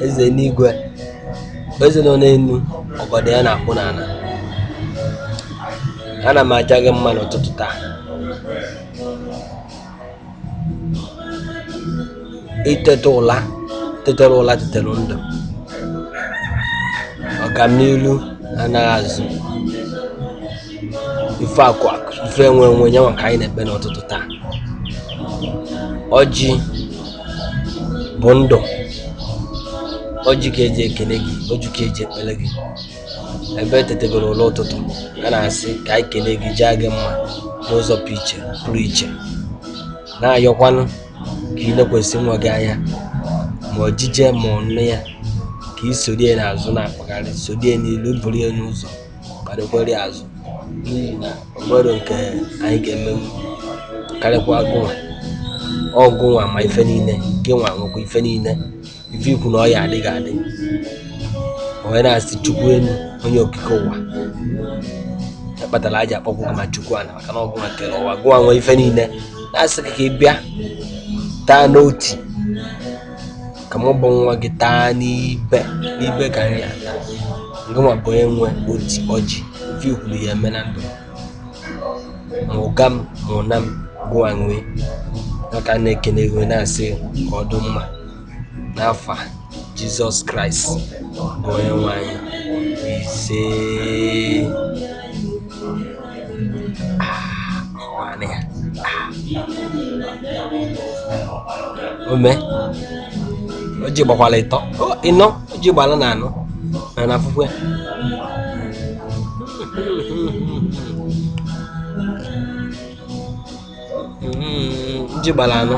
eze n'igwe bụ eze nọ n'elu ọgọdọ ya na-akpụ n'ala ana m aja gị mma n'ụtụtụ taa iteta ụla tetara ụla tetara ndụ ọganilu anaghị azụ ife akụ akụ ife enwe enwe ya ka anyị na-ekpe n'ụtụtụ taa ọjị bụ ndụ ọjị ka eji ekele gị ọjị ka eji ekpele gị ebe etetegoro ụla ụtụtụ a na-asị ka anyị kelee gị jaa gị mma n'ụzọ pụrụ iche pụrụ iche na-ayọkwanụ ka ị lekwesị nwa gị anya ma ojije ma ụna ya ka ị sorie n'azụ na-akpagharị sorie n'ilu buru ya n'ụzọ kparịkwara ya azụ n'ihi na o nwerọ nke anyị ga-eme karịkwa gụnwa ọ gụnwa ma ife niile gịnwa nwekwa ife niile ife i kwu na ọ ya-adị ga-adị onye na-asị chukwu elu onye okike ụwa kpatara eji akpọkwu gị ma chukwu ana maka na ọ gụnwa kere ụwa gụnwa nwe ife niile na-asị ka ị bịa taa n'oti ka mụ bụ nwa gị taa n'ibe n'ibe ka anyị ata ngịnwa bụ onye nwe oti ọjị ọ ife i kwuru ya-eme na ndụ ma ụga m ma ụna m gụnwa nwe maka na-ekene gị na-asị ka ọ dị mma n'afa jizọs kraịst bụ onye nwe anyị isee ome ọjị gbakwala ịtọ ịnọ ọjị gbala anọ na na afụfụ ya ọjị gbara anọ